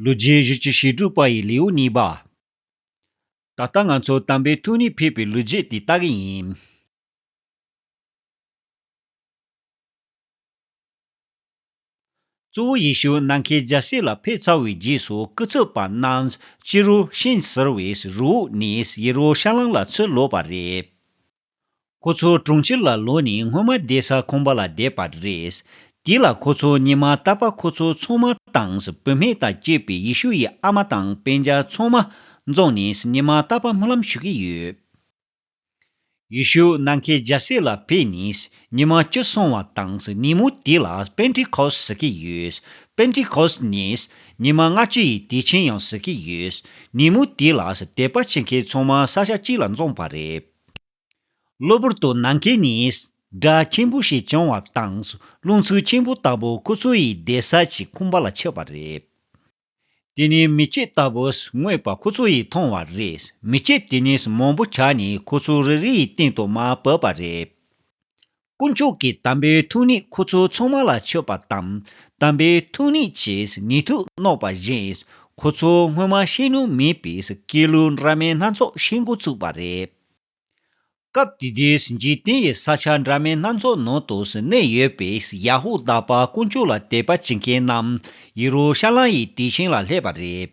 ལོ་རྒྱུས་གཞི་བཅུ་ཞེ་དྲུག་པ་ཡི་ལེའུ་གཉིས་པ། ད་ལྟ་ང་ཚོ་དམ་པའི་ཐུགས་ནས་ཕེབས་པའི་ལོ་རྒྱུས་དེ་ལྟ་གི་ཡིན། གཙོ་བོ་ཡེ་ཤུ་ནམ་མཁའི་རྒྱལ་སྲས་ལ་ཕེབས་ཚར་བའི་རྗེས་སུ་སྐུ་ཚབ་པ་རྣམས་སྤྱིར་རུ་ཤན་ཟེར་བའི་རུའུ་ནས་ཡེ་རུ་ཤ་ལམ་ལ་ཚུར་ལོག་པ་རེད། ཁོ་ཚོ་གྲོང་ཁྱེར་ལ་ལོག་ནས་སྔོན་མ་བསྡད་ས་ཁོམ་པ་ལ་བསྡད་པ་རེད། དེ་ལ་ཁོ་ཚོ་གཉིད་མ་བཏབ་པ་ཁོ་ཚོ་ཚོང་མ་དང་བུད་མེད་དང་བཅས་པའི་ཡེ་ཤུ་ཡི་ཨ་མ་དང་དཔེ་འཇའ་ཚོང་མ་རྫོང་ནས་གཉིད་མ་བཏབ་པ་སྨོན་ལམ་ཞུ་གི་ཡོད། ཡེ་ཤུ་ནམ་མཁའི་རྒྱལ་སྲས་ལ་ཕེབས་ནས་གཉིད་མ་བཅུག་སོང་བ་དང་ཉིན་མོ་དེ་ལ་པེན་ཏི་ཁོ་སི་ཟེར་གི་ཡོད། པེན་ཏི་ཁོ་སི་ནི་ཉིན་མ་ལྔ་བཅུ་ཡི་དུས་ཆེན་ཡང་ཟེར་གི་ཡོད། ཉིན་མོ་དེ་ལ་དད་པ་བྱེད་མཁན་ཚོང་མ་ས་ཆ་གཅིག་ལ་འཛོམས་པ་རེད། གློ་བུར་དུ་ནམ་མཁའི་ནི། སྒྲ་ཆེན་པོ་ཞིག་བྱུང་བ་དང། རླུང་འཚུབ་ཆེན་པོ་ལྟ་བུ་ཁོ་ཚོ་ཡི་བདེ་ས་ཅིག་ཁུམ་པ་ལ་ཆགས་པ་རེད། དེ་ནི་མི་སྐྱེས་ལྟ་བུ་དངོས་པ་ཁོ་ཚོ་ཡིས་མཐོང་བ་རེད། མི་སྐྱེས་དེ་ནི་མང་པོ་ཆགས་ནས་ཁོ་ཚོ་རེ་རེ་ཡི་སྟེང་དུ་མར་བབས་པ་རེད། དཀོན་མཆོག་གི་དམ་པའི་ཐུགས་ནི་ཁོ་ཚོ་ཚང་མ་ལ་མཆོད་པ་དང། དམ་པའི་ཐུགས་ནི་ཆེས་ངེས་ཐུགས་བརྣོག་པ་བཞིན། ཁོ་ཚོ་སྔོན་མ་ཤེས་ནུས་མེད་པའི་སྐྱེས་ལུས་འདྲ་མིན་སྣ་ཚོགས་ཤེས་འགོ་ཚུགས་པ་རེད། སྐབས་དེ་དུས་འཇིག་རྟེན་ཡི་ས་ཆ་འདྲ་མིན་སྣ་ཚོགས་ནང་དུ་གནས་ཡོད་པའི་ཡ་ཧུ་དཱ་པ་དཀོན་མཆོག་ལ་དད་པ་བྱེད་མཁན་རྣམས་ཡེ་རུ་ཤ་ལམ་ཡི་དུས་ཆེན་ལ་སླེབས་པ་རེད།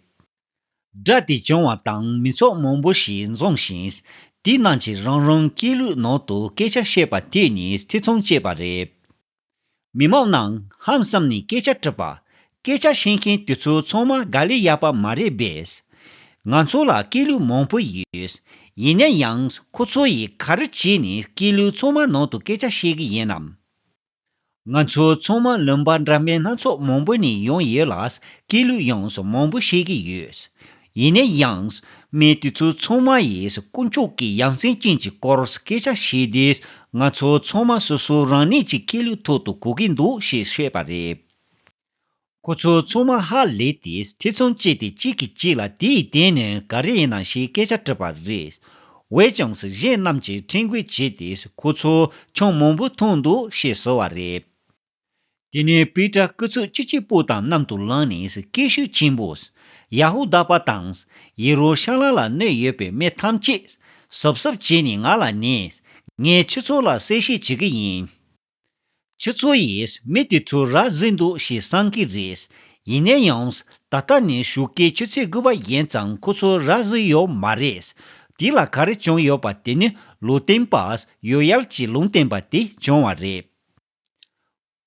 སྒྲ་དེ་བྱུང་བ་དང་མི་ཚོགས་མང་པོ་ཞིག་འཛོམས་ཤིང། དེའི་ནང་གི་རང་རང་སྐད་ལུགས་ནང་དུ་སྐད་ཆ་བཤད་པ་དེ་གཉིས་ཐེ་ཚོམ་བཅད་པ་རེད། མི་མང་རྣམས་ཧམ་བསམ་ནས་སྐད་ཆ་དྲིས་པ། སྐད་ཆ་བཤད་མཁན་དེ་ཚོ་ཚང་མ་དགའ་ལས་ཡག་པ་མ་རེད་བས། ང་ཚོ་ལ་སྐད་ལུགས་མང་པོ་ཡོད། ཡིན་ན་ཡང་ཁོ་ཚོ་ཡིས་ག་རེ་བྱས་ནས་སྐད་ལུགས་ཚང་མ་ནང་དུ་སྐད་ཆ་བཤད་གི་ཡིན་ནམ། ང་ཚོ་ཚང་མ་ལུང་པ་འདྲ་མིན་སྣ་ཚོགས་མང་པོ་ནས་ཡོང་ཡོད་ལ། སྐད་ལུགས་ཡོངས་སུ་མང་པོ་ཤེས་ཀྱི་ཡོད། ཡིན་ན་ཡང། མི་དེ་ཚོ་ཚང་མ་ཡིས་དཀོན་མཆོག་གི་ཡང་སེམས་ཅན་གྱི་སྐོར་སྐད་ཆ་བཤད་དུས། ང་ཚོ་ཚང་མ་སོ་སོ་རང་ནས་ཀྱི་སྐད་ལུགས་ཐོག་ཏུ་གོ་གི་འདུག་ཞེས་བཤད་པ་རེད། ཁོ་ཚོ་ཚང་མ་ཧ་ལས་ཏེ་ཐེ་ཚོམ་བཅད་དེ་གཅིག་གིས་གཅིག་ལ་དེའི་གདན་ནས་ག་རེ་ཡིན་ནམ་ཞེས་སྐད་ཆ་དྲིས་པ་རེད། ཝེ་ཅང་སི་གཞན་རྣམས་ཀྱིས་ཁྲེལ་འགུལ་བྱས་ཏེ་ཁོ་ཚོ་ཆང་མང་པོ་འཐུང་འདུག་ཞེས་ཟེར་བ་རེད། དེ་ནས་པེ་ཏྲ་སྐུ་ཚོགས་གཅིག་གཅིག་པོ་དང་མཉམ་དུ་ལངས་ནས་སྐད་ཤུགས་ཆེན་པོས། ཡ་ཧུ་དཱ་པ་དང། ཡེ་རུ་ཤ་ལམ་ལ་གནོད་ཡོད་པའི་མི་ཐམས་ཅད། ཟུབ་ཟུབ་བྱས་ནས་ང་ལ་གནས། ངས་ཁྱོད་ཚོ་ལ་གསལ་བཤད་བྱེད་ཀྱི་ཡིན། ཁྱེད་ཚོ་ཡིས་མི་དེ་ཚོ་ར་བཟི་འདུག་ཞེས་བསམ་གི་རེད། ཡིན་ན་ཡང། ད་ལྟ་ནས་བཞུགས་སྐད་ཆུ་ཚོད་དགུ་བ་ཡན་ཙམ་ཁོ་ཚོ་ར་བཟི་ཡོད་མ་རེད། དེ་ལ་ག་རེ་བྱུང་ཡོད་པ་དེ་ནི་ལུས་བསྟན་པ། ཡོད་ཡལ་གྱི་ལུང་བསྟན་པ་དེ་བྱུང་བ་རེད།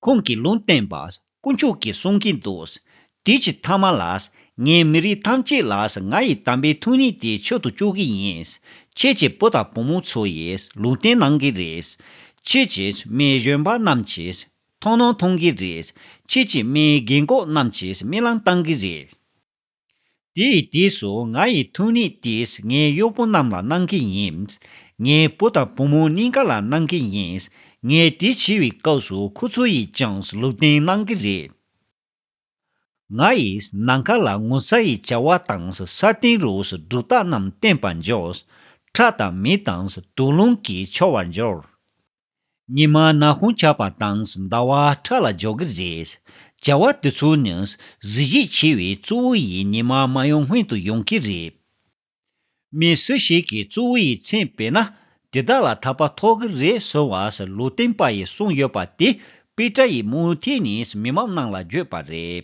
ཁོང་གིས་ལུང་བསྟན་པ་དཀོན་མཆོག་གིས་གསུང་གིན་འདུག། དུས་ཀྱི་མཐའ་མ་ལ། ངས་མི་རིགས་ཐམས་ཅད་ལ་ང་ཡི་དམ་པའི་ཐུགས་ནུས་དེ་འཆོལ་དུ་བཅུག་གི་ཡིན། ཁྱེད་ཀྱི་བུ་དང་བུ་མོ་ཚོ་ཡིས་ལུང་བསྟན་གནང་གི་རེད། ཁྱེད་ཀྱིས་མིའི་གཞོན་པ་རྣམས་ཀྱིས་མཐོང་སྣང་མཐོང་གི་རེད། ཁྱེད་ཀྱིས་མིའི་རྒན་གོག་རྣམས་ཀྱིས་རྨི་ལམ་བཏང་གི་རེད། དེ་ཡི་དུས་སུ་ང་ཡི་ཐུགས་ནི་དེས་ངའི་གཡོག་པོ་རྣམས་ལ་གནང་གི་ཡིན། ངའི་བུ་དང་བུ་མོ་གཉིས་ཀ་ལ་གནང་གི་ཡིན། ངས་དེ་བྱས་པའི་སྐབས་སུ་ཁོ་ཚོ་ཡིས་ཀྱང་ལུས་རྟེན་གནང་གི་རེད། ང་ཡིས་ནམ་མཁའ་ལ་ངོ་ཚ་ཡི་བྱ་བ་དང་ས་སྟེང་རུ་སྒྲུབ་རྟགས་རྣམས་བསྟན་པར་འགྱུར། ཁྲག་དང་མེ་དང་དུག་རླུང་གིས་འཆོར་བར་འགྱུར། ཉི་མ་ནག་ཁུང་ཆགས་པ་དང་ཟླ་བ་ཁྲ་ལ་འཇོག་གི་རེད། བྱ་བ་དེ་ཚོ་ནི་གཟི་བརྗིད་ཆེ་བའི་གཙོ་བོ་ཡི་ཉི་མ་མ་ཡོང་སྔོན་དུ་ཡོང་གི་རེད། མི་སུ་ཞིག་གིས་གཙོ་བོ་ཡི་མཚན་སྤེལ་ན་དེ་དག་ལ་ཐར་པ་ཐོབ་གི་རེད་ཟེར་བ་ལོ་བསྟན་པ་ཡིས་གསུངས་ཡོད་པ་དེ་པི་ཀྲ་ཡིས་མུ་མཐུད་ནས་མི་མང་ནང་ལ་བརྗོད་པ་རེད།